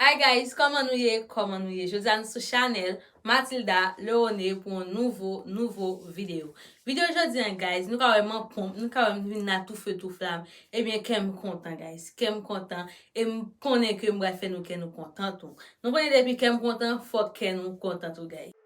Hi guys kòman nou ye kòman nou ye jodi a nou sou chanèl Matilda Leone pou yon nouvo nouvo video video jodi an guys nou ka wè man ponp nou ka wè m vin la tou feu tou flam ebyen kè m kontan guys kè m kontan e m konnen ke m pral fè nou kè nou kontan tou nou konnen depi kè m kontan fòk kè nou kontan tou guys.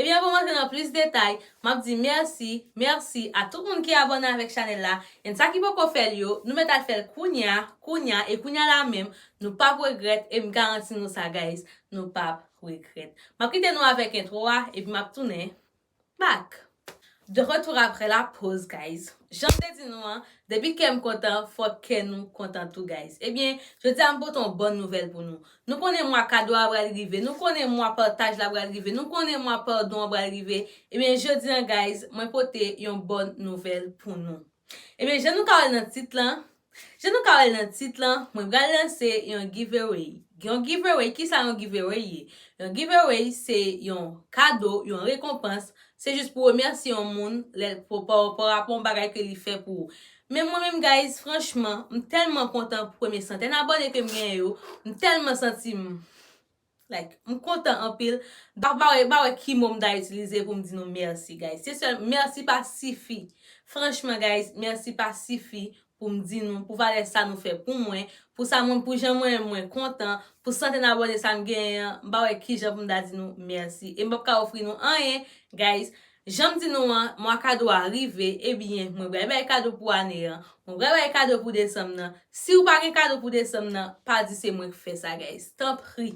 Ebyen anvan m rantre nan plis detay, m ap di mèsi, merci, a tout moun ki abòne avèk chanèl la, and sa ki poko fè l yo, nou mèt al fè l kounya, kounya, e kounya la menm, Nou pap regrèt em garanti nou sa guys nou pap regrèt. Map kite nou avèk intro a epi map tounen back. De retour après la pause guys Janm te di nou an depi kèm kontan fòk kè nou kontan tou guys ebyen jodi a m pote yon bòn nouvèl pou nou nou konnen mwa kado a pral rive nou konnen mwa pataj la pral rive nou konnen mwa padon an pral rive ebyen jodi an guys mwen pote yon bòn nouvèl pou nou ebyen jan nou ka wèl nan tit lan Jan nou ka wèl nan tit lan, mwen pral lanse yon giveaway. Yon giveaway, kisa yon giveaway ye? Yon giveaway se yon kado, yon rekonpans, se jis pou remèsye yon moun lèl parapò yon bagay ke li fè pou ou. Men mwen menm guys, franchman, m tèlman kontan pou premye santèn abòne kem genyen yo, m tèlman santim. Like m kontan anpil. Donk m pa wè, m pa wè ki mo m ta itilize pou m di nou mèsi guys. Se sèl, mèsi pa sifi. Franchman guys, mèsi pa sifi pou m di nou, pou valè sa nou fè pou mwen, pou sa mwen, pou jan mwen mwen kontan, pou santen abòne sa m genyen an, m pa wè ki jan pou m ta di nou mèsi. E m p ap ka ofri nou anyen guys. Janm di nou an, mwa kado a rive, ebyen mwen pral bay kado pou ane an, mwen pral bay kado pou desanm nan, siw pa gen kado pou desanm nan, pa di se mwen k fè sa guys, tanpri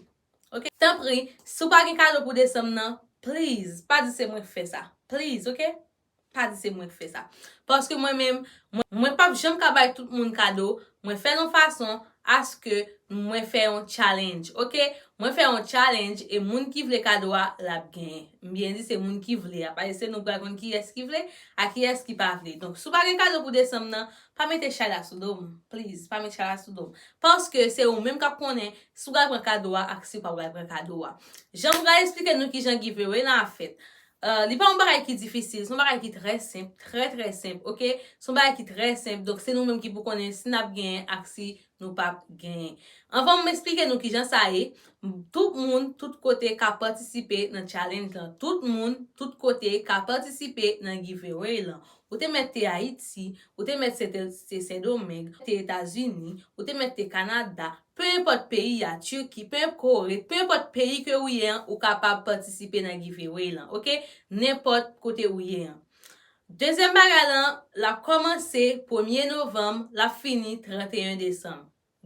ok, tanpri siw pa gen kado pou desanm nan, please pa di se mwen k fè sa, please ok, pa di se mwen k fè sa, paske mwen menm, mwen pap janm ka bay tout moun kado, mwen fèl yon fason, aske mwen fè yon challenge ok mwen fè yon challenge e moun ki vle kado a lap genyen m byen di se moun ki vle a paske se nou pral konn kiyès ki vle a kiyès ki pa vle donk si w pa gen kado pou desanm nan pa mete chay la sou do m please pa met chay la sou do m paske se ou menm kap konnen si w pral pran kado a ak si w pa pral pran kado a jan m pral esplike nou kijan giveaway lan ap fèt Euh li pa yon bagay ki difisil, se yon bagay ki trè senp, trè trè senp ok, se yon bagay ki trè senp donk se nou menm ki pou konnen si nap genyen ak si nou pap genyen. Anvan m esplike nou kijan sa ye, tout moun tout kote ka patisipe nan challenge lan, tout moun tout kote ka patisipe nan giveaway lan. Ou te mèt te Ayiti, ou te mèt se te Sendomeng, te Etazini, ou te mèt te Kanada, Peu enpòt peyi a Turquie, peu enp kore ret, peu enpòt peyi ke ou ye an ou kapab patisipe nan giveaway lan ok nenpòt kote ou ye an. Dezyèm bagay lan lap kòmanse premye novanm lap fini 31 desanm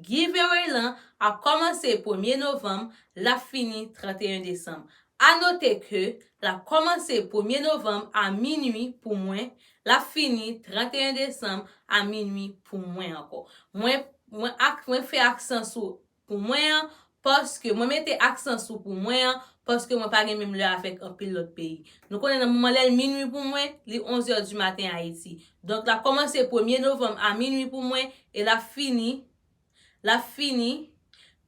Giveaway lan ap kòmanse premye novanm lap fini 31 desanm A note ke lap kòmanse premye novanm a minui pou mwen Lap fini 31 desanm a minwi pou mwen ankò. Mwen mwen ak mwen fè aksan sou pou mwen an paske mwen mete aksan sou pou mwen an paske mwen pa gen menm lè avèk anpil lòt peyi. Nou konnen nan moman lè l minwi pou mwen, li onzè di maten Ayiti. Donk lap kòmanse premye novanm a minwi pou mwen e lap fini lap fini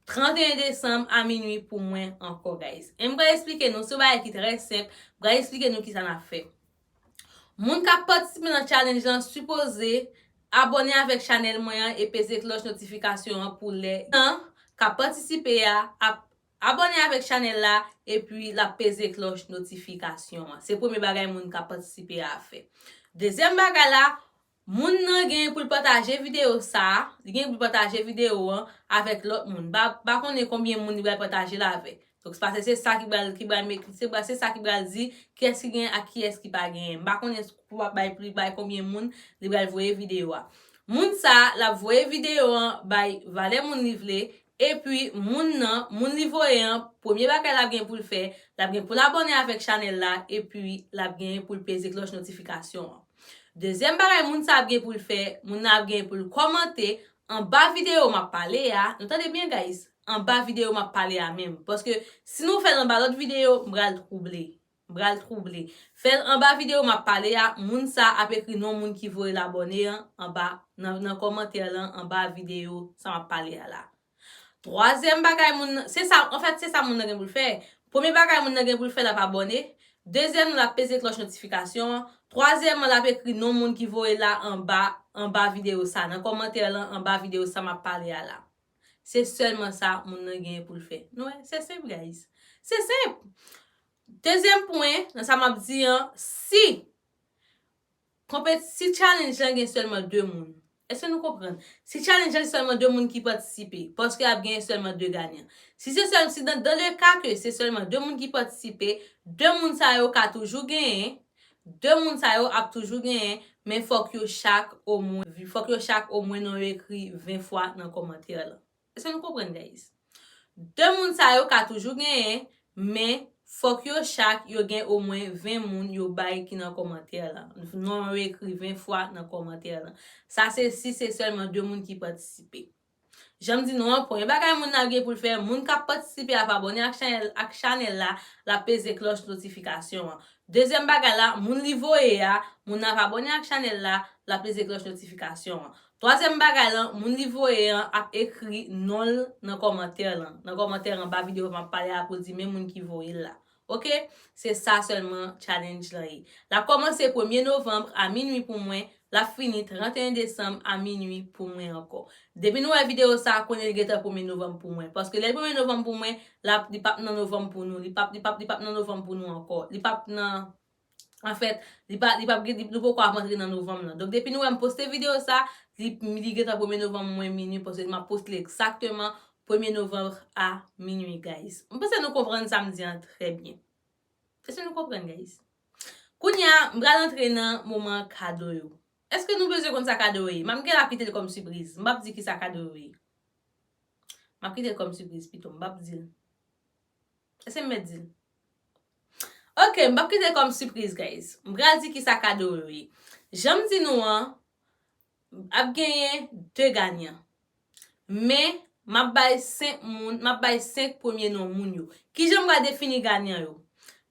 31 desanm a minwi pou mwen ankò guys. E m pral esplike nou se yon bagay ki trè senp, m pral esplike nou kisa nap fè. Moun kap patisipe nan challenge lan sipoze Abòne avèk chanèl mwen an e peze klòch notifikasyon an pou lè nan kap patisipe a ap Abòne avèk chanèl la epi lap peze klòch notifikasyon an se premye bagay moun kap patisipe a ap fè dezyèm bagay la Moun nan genyen pou l pataje videyo sa a, li genyen pou l pataje videyo an avèk lòt moun. M pa konnen konbyen moun li pral pataje l avèk. Donk, paske se sa ki pral, ki pral met, se sa ki pral di kiyès ki genyen ak kiyès ki pa genyen. M pa konnen pou l ap bay pri, bay konbyen moun li pral voye videyo a. Moun sa a, l ap voye videyo an bay valè moun li vle, epi moun nan, moun li voye an, premye bagay l ap gen pou l fè, l ap gen pou l abòne avèk chanèl la, epi l ap genyen pou l peze klòch notifikasyon an. Dezyèm bagay moun sa ap gen pou l fè, moun nan ap gen pou l kòmante anba videyo m ap pale a, nou tande byen guys, anba videyo m ap pale a menm, paske si nou fè l anba lòt videyo, m pral twouble, m pral twouble. Fè l anba videyo m ap pale a, moun sa ap ekri non moun ki voye l abòne an anba nan kòmantè lan anba videyo sa m ap pale a la. Twazyèm bagay moun nan, se sa, anfèt se sa moun nan gen pou l fè. Premye bagay moun nan gen pou l fè l ap abòne, dezyèmman l ap peze klòch notifikasyon an, twazyèmman l ap ekri non moun ki voye l la anba anba videyo sa, nan kòmantè lan anba videyo sa m ap pale a la. Se sèlman sa moun nan genyen pou l fè. Nou wè, se senp guys. Se senp! Dezyèm pwen nan sa m ap di an, si Konpet si challenge lan gen selman 2 moun eske nou konprann si challenge lan gen selman 2 moun ki patisipe paske ap gen selman 2 ganyan si se sel si dan dan le ka ke se selman 2 moun ki patisipe 2 moun sa yo ka toujou genyen 2 moun sa yo ap toujou genyen men fok yo chak omwen fok yo chak omwen non yo ekri 20 fwa nan komantè lan. Eske nou konprann guys? De moun sa yo ka toujou genyen men fòk yo chak yo gen omwen 20 moun yo bay ki nan kòmantè lan. Non yo ekri 20 fwa nan kòmantè lan. Sa se si se sèlman 2 moun ki patisipe. Jan m di nou an, premye bagay moun nan ap gen pou l fè, moun k ap patisipe ap abòne ak chanèl la, l ap peze klòch notifikasyon an. Dezyèm bagay la, moun li voye a, moun nan ap abòne ak chanèl la, l ap peze klòch notifikasyon an. Twazyèm bagay lan, moun li voye an ap ekri non l nan kòmantè lan. Nan kòmantè anba videyo m ap pale a pou l di men moun ki voye l la. Ok. Se sa sèlman challenge lan ye. L ap kòmanse premye novanm a minui pou mwen, l ap fini 31 desanm a minui pou mwen ankò. Depi nou wè videyo sa a, konnen li gentan premye novanm pou mwen. Paske lè li premye novanm pou mwen, l ap, li p ap nan novanm pou nou. Li p ap, li p ap, li p ap nan novanm pou nou ankò. Li p ap nan. An fèt, li pa, li pap gen, nou poko ap antre nan novanm lan. Donk depi nou wè m poste videyo sa, li, li gentan premye novanm mwen minui paske map poste li egzakteman premye novanm a minui guys. M panse nou konprann sa m di an trè byen. Èske nou konprann guys? Kounya m pral antre nan moman kado yo. Èske nou bezwen konn sa kado yo ye? Map gen la kite l kòm sipriz. M pap di kisa kado yo ye. Map kite l kòm sipriz pito, m pap di l. Eske m mèt di l? Ok, m pap kite l kòm sipriz guys. M pral di kisa kado yo ye. Jan m di nou an, ap genyen 2 ganyan. Men, m ap bay 5 moun, m ap bay 5 premye non moun yo. Kijan m pral defini ganyan yo?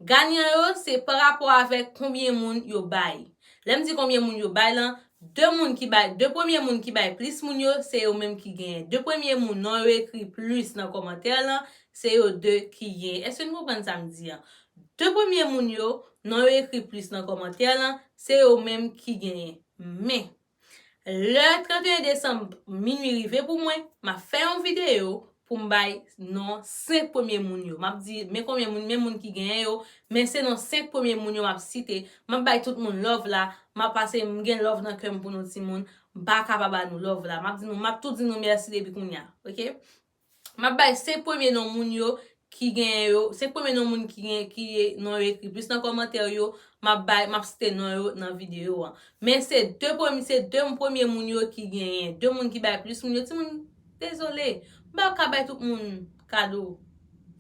Ganyan yo se parapò avèk konbyen moun yo bay. Lè m di konbyen moun yo bay lan, 2 moun ki bay 2 premye moun ki bay plis moun yo se yo menm ki genyen 2 premye moun non yo ekri plis nan kòmantè lan se yo 2 ki genyen èske nou konprann sa m di an 2 premye moun yo non yo ekri plis nan kòmantè lan se yo menm ki genyen men lè 31 desanm minui rive pou mwen m ap fè yon videyo pou m bay non 5 premye moun yo. M ap di men konbyen moun, men moun ki genyen yo, men se non 5 premye moun yo m ap site. M ap bay tout moun love la, m ap pase m gen love nan kè m pou nou timoun. M pa ka pa ba nou love la. M ap di nou, m ap tou di nou mèsi depi kounya. Ok. M ap bay 5 premye non moun yo ki genyen yo, 5 premye non moun ki gen, ki non yo ekri plis nan kòmantè yo, m ap bay, m ap site non yo nan videyo an. Men se 2 premye, se 2 premye moun yo ki genyen. 2 moun ki bay plis moun yo. Timoun, Dezole, m pa ka bay tout moun kado.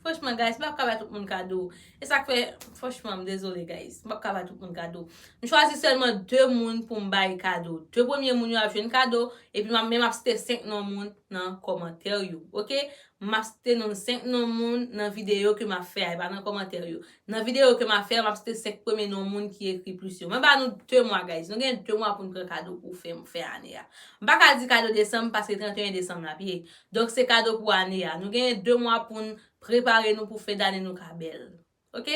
Franchman guys, m pa ka bay tout moun kado. E sa k fè, franchman, m dezole guys. M pa ka bay tout moun kado. M chwazi sèlman 2 moun pou m bay kado. 2 premye moun yo ap jwenn kado, epi m ap men m ap site 5 non moun nan kòmantè yo. Ok? M ap site non 5 non moun nan videyo ke m ap fè a, e pa nan kòmantè yo. Nan video ke map fè a map site 5 premye non moun ki ekri plis yo. Mwen ba nou 2 mwa guys, nou gen 2 mwa poun pran kado pou fen fen ane a. M pa ka di kado desanm paske 31 desanm lap ye. Donk se kado pou ane a. Nou gen 2 mwa poun prepare nou pou fen dane nou ka bèl. Ok.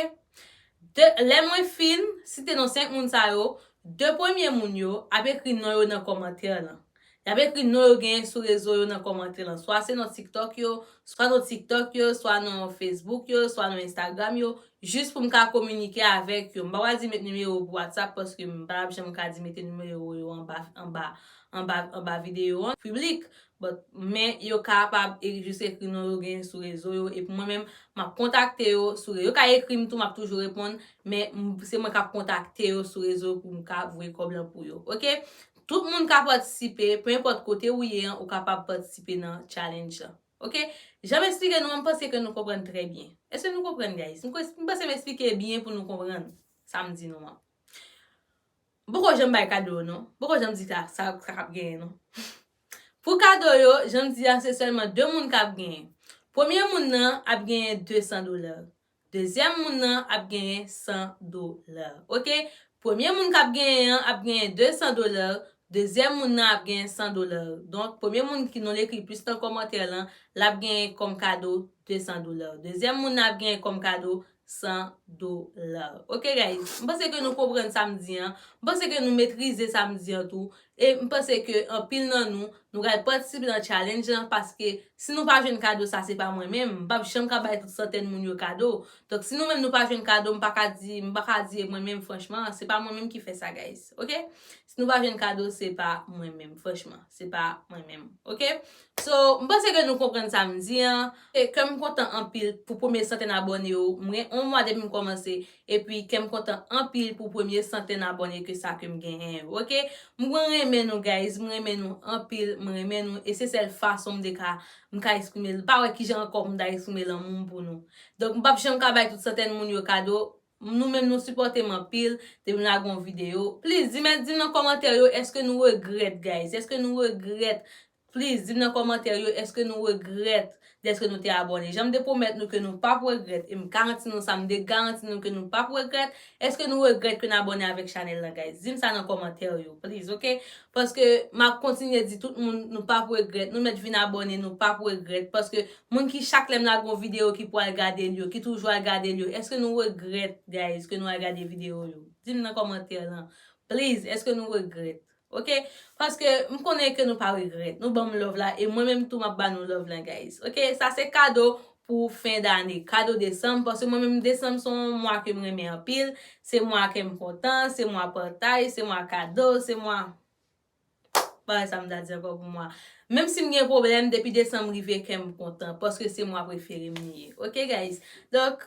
De, lè mwen fin site non 5 moun sa yo, 2 premye moun yo ap ekri non yo nan kòmantè lan. Y ap ekri non yo genyen sou rezo yo nan kòmantè lan. Swa se non TikTok yo, swa non TikTok yo, swa non Facebook yo, swa non Instagram yo, jis pou m ka kominike avèk yo. M pa pral di met nimewo pou WhatsApp paske m pa ap janm ka di mete nimewo yo anba, anba, anba, anba videyo an, piblik. But, men yo kapab e jis ekri non yo genyen sou rezo yo epi mwen menm m ap kontakte yo sou re. Yo ka ekri m tou m ap toujou reponn, men m, se mwen k ap kontakte yo sou rezo pou m ka voye kòb lan pou yo. Ok? Tout moun ka patisipe, pe enpòt kote ou ye an ou kapab patisipe nan challenge lan. Ok. Jan m esplike nou an m panse ke nou konprann trè byen. Eske nou konprann guys? M panse m esplike byen pou nou konprann sa m di nou an. M poko janm bay kado yo non. M poko janm di sa sa kap genyen non. Pou kado yo, jan m di a se sèlman 2 moun kap genyen. Premye moun nan ap genyen 200 dola. Dezyèm moun nan ap genyen 100 dola. Ok. Premye moun k ap genyen an ap genyen 200 dola, dezyèm moun nan ap genyen 100 dola. Donk, premye moun ki non l ekri plis nan kòmantè lan, l ap genyen kòm kado 200 dola. Dezyèm moun nan ap genyen kòm kado 100 dola. Ok guys, m panse ke nou konprann sa m di an. M panse ke nou metrize sa m di an tou. E m panse ke anpil nan nou, nou pral patisipe nan challenge lan paske si nou pa jwenn kado sa se pa mwen menm, m pap janm ka bay tout santèn moun yo kado. Donk si nou menm nou pa jwenn kado m pa ka di, m pa ka di e mwen menm franchman, se pa mwen menm ki fè sa guys. Ok. Si nou pa jwenn kado se pa mwen menm franchman, se pa mwen menm. Ok. So, m panse ke nou konprann sa m di an. Kè m kontan anpil pou premye santèn abòne yo. M gen 1 mwa depi m kòmanse Epi kèm kontan anpil pou premye santèn abòne ke sa kem genyen yo ok m gwen renmen nou guys m renmen nou anpil m renmen nou e se sèl fason m te ka m ka esprime l m pa wè kijan ankò pou m ta esprime lanmou m pou nou donk m pap janm ka bay tout santèn moun yo kado nou menm nou sipòte m anpil depi m lage yon video please di mèt di m nan kòmantè yo èske nou regrèt guys èske nou regrèt Please dim nan kòmantè yo eske nou regrèt deske nou te abòne janm te pwomèt nou ke nou pap regrèt em garanti nou sa m de garanti nou ke nou pap regrèt eske nou regrèt ke n abòne avèk chanèl lan guys dim sa nan kòmantè yo please ok paske map kontinye di tout moun nou pap regrèt nou mèt vin abòne nou pap regrèt paske moun ki chak lèm lage yon video ki pwal gade l yo ki toujou al gade l yo eske nou regrèt guys ke nou al gade video yo dim nan kòmantè lan please eske nou regrèt. Ok paske m konnen ke nou pa regrèt nou banm love la e mwen menm tou map ba nou love lan guys ok sa se kado pou fen dane kado desanm paske mwen menm desanm se yon mwa kem renmen anpil se mwa kem kontan se mwa pataj se mwa kado se mwa bagay sa m ta di ankò pou mwa menm si m gen pwoblèm depi desanm rive kèm kontan paske se mwa preferem li ye ok guys donk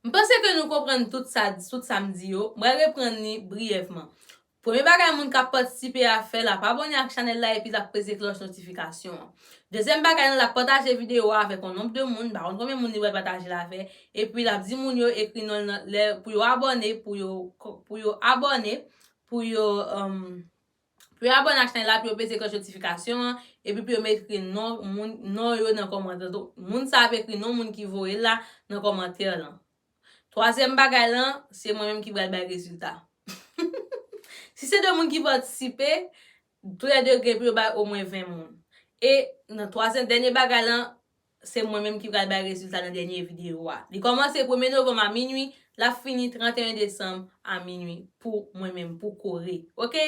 M panse ke nou konprann tout sa tout sa m di yo, m pral reprann li briyèvman. Premye bagay moun k ap patisipe a fè l ap abòne ak chanèl la epi l ap peze klòch notifikasyon an. Dezyèm bagay nan l ap pataje videyo a avèk yon nonb de moun, m pa konn konbyen moun li pral pataje l avè, epi l ap di moun yo ekri non l nan lè pou yo abòne pou yo pou yo abòne pou yo. Pou yo abòne ak chanèl la, pou yo peze klòch notifikasyon an, epi pou yo mete ekri non moun non yo nan kòmantè lan. Moun sa ap ekri non moun ki voye l la nan kòmantè lan. Twazyèm bagay lan, se mwen menm ki pral bay rezilta. Si se 2 moun ki patisipe, toulède gen pou yo bay omwen 20 moun. E nan twazyèm dènye bagay lan, Se mwen menm ki pral bay rezilta nan dènye videyo a. Li kòmanse premye novanm a minwi, l ap fini 31 desanm a minwi pou mwen menm, pou Kore. Ok?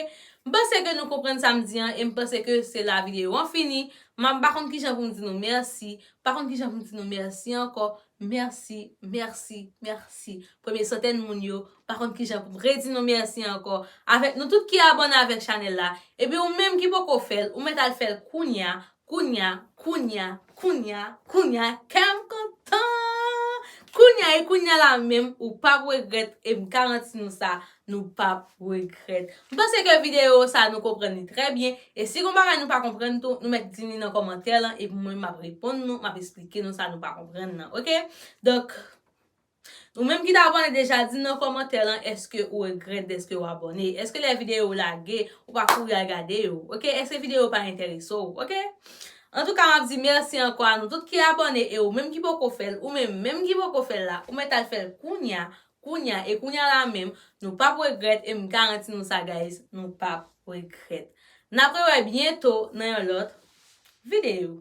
M panse ke nou konprann sa m di an e m panse ke se la videyo an fini. M ap m pa konn ki jan pou m di nou mèsi, m pa konn ki jan pou m di nou mèsi ankò. Mèsi, mèsi, mèsi. Premye santèn moun yo, m pa konn ki jan pou m redi nou mèsi ankò. Avèk nou tout ki abòne avèk chanèl la. Epi ou menm ki poko fè l, ou mèt al fè l kounya Kounya, kounya, kounya, kounya kèm kontan! Kounya e kounya la menm ou pap regrèt e m garanti nou sa nou pap regrèt. M panse ke videyo sa nou konprann li trè byen e si gon bagay nou pa konprann tou nou mèt di li nan kòmantè lan epi mwen menm m ap reponn nou, m ap esplike nou sa nou pa konprann nan ok. Donk. Ou menm ki t abòne deja dim nan kòmantè lan èske ou regrèt dèske ou abòne èske lè videyo yo lage ou pa kouri al gade yo ok èske videyo yo pa enterese w ok antouka map di mèsi ankò a nou tout ki abòne e ou menm ki poko fèl ou menm menm ki poko fèl la ou mèt al fèl kounya kounya e kounya la menm nou pap regrèt em garanti nou sa guys nou pap regrèt nap rewè byento nan yon lòt videyo.